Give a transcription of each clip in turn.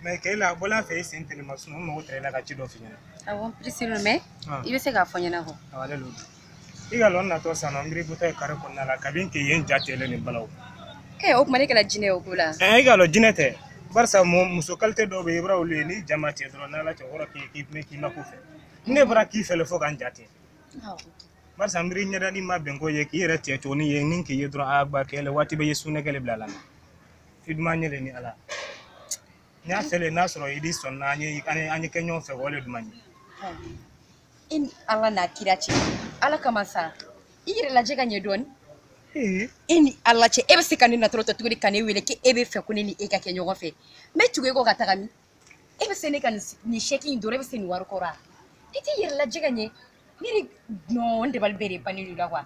mɛ k'e la bɔla fɛ i sen tɛnɛma sunɔgɔ mago tɛrɛ la ka ci dɔ f'i ɲɛna awɔ pirisi mɛ i bɛ se k'a fɔ n ɲɛna kɔ i ka lɔn n natɔ san nɔ miiri butɔ ye kare kun na la kabini k'i ye n ja tele nin balaw ee o tuma ne kɛra jinɛ ye o ko la ɛɛ i ka lɔn jinɛ tɛ barisa muso kalite dɔw bɛ i b'a olu ye ni jama cɛ dɔrɔn n'ala cɛ kɔrɔ k'i k'i mɛn k'i ma ko fɛ ne bara k'i fɛlɛ fo ka n ja ten barisa n miiri ɲɛdali ma bɛn ko ye k'i yɛrɛ tigɛ cogo ni ye ni k'i ye dɔrɔn a ba kɛlɛ waati bɛ ye sunɛ kɛlɛ bila la i duman n ɲɛ le ni ala n y'a fɛ le n'a sɔrɔ i di sɔnna an ye an ye kɛ ɲɔgɔn fɛ o le duman ye i ni ala n'a kira cɛ ala kama sa i yɛrɛ lajɛ ka ɲɛ dɔɔni e ni ala cɛ e bɛ se ka ne natɔrɔ tɔ tuguni ka ne wele ko e b'a fɛ ko ne ni e ka kɛ ɲɔgɔn fɛ n bɛ tugu e kɔ ka taga min e bɛ se ne ka nin sɛki in dɔrɔn e bɛ se nin wari kɔrɔ wa i t'i yɛrɛ lajɛ ka ɲɛ ne ni nɔn dabali bɛɛ de bannen don la wa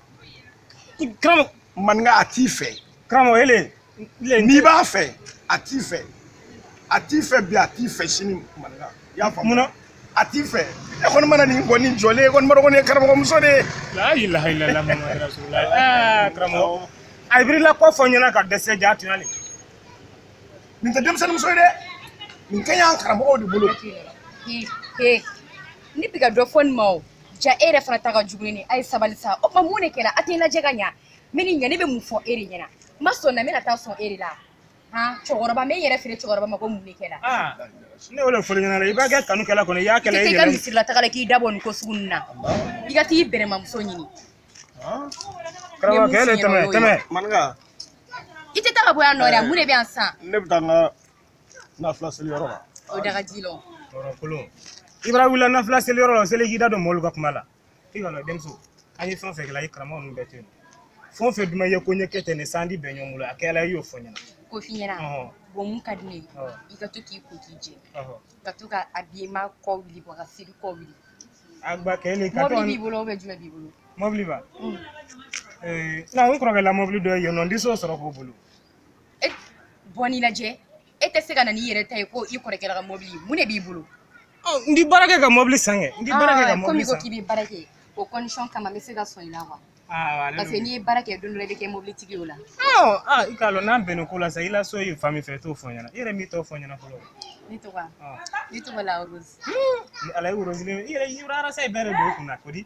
karamɔgɔ maninka a t'i fɛ karamɔgɔ ele n'i b'a fɛ a t'i fɛ a t'i fɛ bi a t'i fɛ sini maninka i y'a faamu munna a t'i fɛ e kɔni mana nin kɔni jɔlen e kɔni b'a dɔn ko nin ye karamɔgɔ muso de ye. la ilaha illallah muhammad rasulullah aa karamɔgɔ a ye birila ko fɔ n ɲɛna ka dɛsɛ jaa tun y'ale. nin tɛ denmisɛnnin muso ye dɛ nin ka ɲi an karamɔgɔw de bolo. ne bɛ ka dɔ fɔ nin ma o. jaa e yɛrɛ fana ta ka jugu nin ye a ye sabali sa o tuma mun de kɛra a tɛ lajɛ ka ɲa n bɛ nin ɲɛ ne bɛ mun fɔ e de ɲɛna n ma sɔn na n bɛna taa sɔn e de la han cɛkɔrɔba n bɛ n yɛrɛ feere cɛkɔrɔba ma ko mun de kɛra aa ne y'o de fɔl'i ɲɛna dɛ i b'a kɛ kanu kɛla kɔni i y'a kɛla i i tɛ ka yɛrɛ misiri la taga la k'i dabɔ nin ko sugu ninnu na i ka t'i bɛrɛma muso ɲini karamɔgɔkɛ de tɛmɛ tɛmɛ maninka i tɛ taa ka bɔ yan nɔ dɛ mun de bɛ yan sisan ne bɛ taa n ka nafila seli yɔrɔ la o daga ji lɔ tɔɔrɔkolon i bara wulila nafila seli yɔrɔ la seli k'i da don mɔɔlu ka kuma la i ka lɔn denmuso an ye fɛn fɛn kɛla i karamɔgɔ ninnu bɛɛ to yen fɛn fɛn duman ye ko n ye kɛ ten ne sa an di bɛn ɲɔgɔn bolo a kɛla i y'o fɔ n ɲɛna k'o f'i ɲɛna ɔhɔn bɔn mun ka di ne ye ɔhɔn i ka to k'i ko k'i jɛ ɔhɔn ka to ka habillement kɔ wuli bɔ ka siri kɔ wuli a gba kɛ ni ka mɔbili tɔn b'i bolo ou bien jumɛn b'i bolo mɔbili ba Mm. ee na n kɔrɔkɛ la mɔbili dɔ ye yen nɔ n di se o sɔrɔ k'o bolo e bɔ n'i lajɛ e tɛ se ka na n'i yɛrɛ ta ye ko i kɔrɔkɛ la ka mɔbili mun de b'i bolo n di baara kɛ ka mɔbili san kɛ n di baara kɛ ka mɔbili komi ko k'i bɛ baara kɛ o condition kama n bɛ se ka sɔn i la wa parce que n'i ye baara kɛ don dɔ la i bɛ kɛ mɔbilitigi o la i k'a dɔn n'an bɛnna ko la sa i la so ye fan min fɛ i t'o fɔ n ɲɛna i yɛrɛ min tɔgɔ fɔ n ɲɛna fɔlɔ ne tɔgɔ ne tɔgɔ le rose ala ye rose i yɛrɛ yɔrɔ arasa ye bɛɛ de don kunna ko di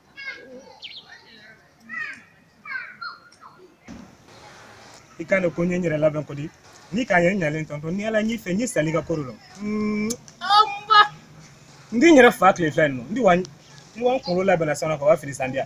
i kan ko n ye n yɛrɛ labɛn ko di ni k'a ye n ɲalen tɔntɔn ni ala n y'i fɛ n ye sali ka koro la n di n yɛrɛ fa tile fila nin nɔ n di wa n wa n kunkolo labɛnna sani ka wa fini san diya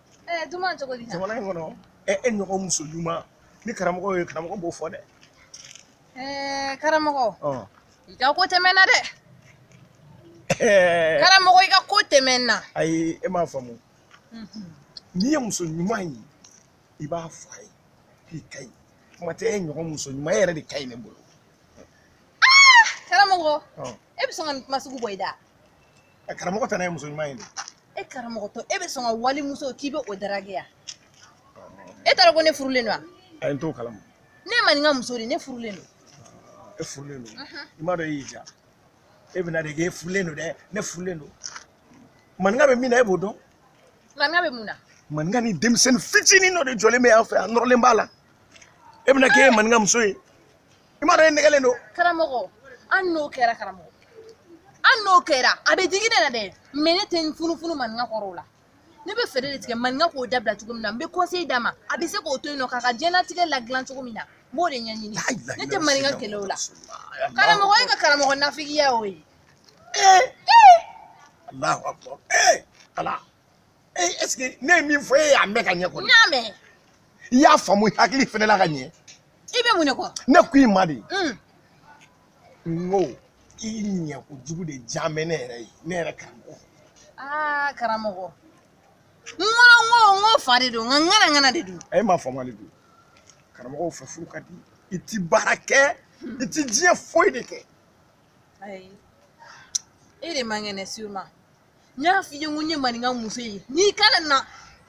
ɛɛ duman cogo di jamana in kɔnɔ ɛ e ɲɔgɔn muso ɲuman ni karamɔgɔ ye karamɔgɔ b'o fɔ dɛ ɛɛ karamɔgɔ ɔ i ka ko tɛmɛnna dɛ ɛɛ karamɔgɔ i ka ko tɛmɛnna ayi e m'a faamu n'i ye muso ɲuman ye i b'a fɔ a ye k'i ka ɲi kuma tɛ e ɲɔgɔn muso ɲuman e yɛrɛ de ka ɲi ne bolo karamɔgɔ ɔ e bɛ sɔn ka nin kuma sugu bɔ i da ɛ karamɔgɔ tana ye muso ɲuman ye de e karamɔgɔ tɔ e bɛ sɔn ka wali muso k'i bɛ o darage ya e t'a dɔn ko ne furulen don wa ayi n t'o kalama ne maninka muso de ne furulen don e furulen don i m'a dɔn e y'i ja e bɛna de k'e furulen don dɛ ne furulen don maninka bɛ min na e b'o dɔn maninka bɛ mun na maninka ni denmisɛnnin fitinin dɔ de jɔlen bɛ yan fɛ a nɔrɔlen b'a la e bɛna k'e ye maninka muso ye i m'a dɔn e nɛgɛlen don karamɔgɔ an n'o kɛra karamɔgɔ an n'o kɛra a bɛ digi ne la dɛ mais ne tɛ n funufunu maninka kɔrɔ o la ne bɛ fɛɛrɛ de tigɛ maninka k'o dabila cogo min na n bɛ conseil d'a ma a bɛ se k'o to yen nɔ k'a ka diɲɛlatigɛ ladilan cogo min na n b'o de ɲɛɲini ne tɛ maninka kɛlɛ o la karamɔgɔ e ka karamɔgɔ nafigiya y'o ye ee ee alahu akbar ee ala ee est-ce que ne ye min fɔ e y'a mɛn ka ɲɛ kɔni. n y'a mɛn. i y'a faamu i hakili fɛnɛ la ka ɲɛ. i bɛ mun de kɔ. ne ko i ma de. n ko i ɲɛ kojugu de diyan bɛ ne yɛrɛ ye ne yɛrɛ karamɔgɔ. aa karamɔgɔ n kɔnɔ n ko n ko fa de don nka ŋanaŋana de don. e ma faamuyali don karamɔgɔw fɛ furu ka di i ti baara kɛ i ti diɲɛ foyi de kɛ. ayi e de man kɛnɛ sûrement. n y'a f'i ye n ko n ye maninka muso ye n'i kana na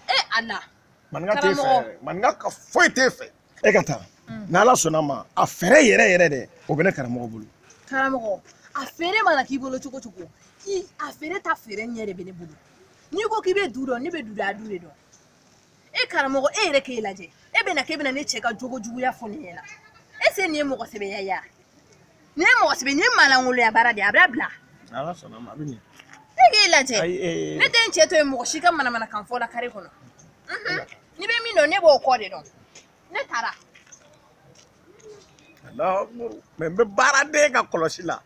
e ala maninka t'e fɛ yɛrɛ maninka ka foyi t'e fɛ e ka taa mm. n'ala sɔnna ma a fɛɛrɛ yɛrɛ yɛrɛ dɛ o bɛ ne karamɔgɔ bolo karamɔgɔ a fɛɛrɛ mana k'i bolo cogo cogo i a fɛɛrɛ ta fɛɛrɛ ɲɛ de bɛ ne bolo n'i ko k'i bɛ du dɔn ne bɛ du da du de dɔn e karamɔgɔ e yɛrɛ k'e lajɛ e bɛna k'e bɛna ne cɛ ka jogo juguya fɔ ne ɲɛna est-ce que nin ye mɔgɔ sɛbɛya ye nin ye mɔgɔ sɛbɛ nin ye maalankolonya baara de ye a bɛ bila n'ala sɔnna ma a bɛ ɲɛ e k'e lajɛ ne tɛ n cɛ to yen mɔgɔ si ka manamanakan fɔ la kare kɔnɔ n'i bɛ min dɔn ne b'o kɔ de dɔn ne taara mɛ n bɛ baaraden ka kɔlɔsi la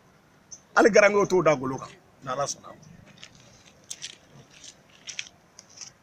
hali garankew t'o da golo kan n'ala sɔnna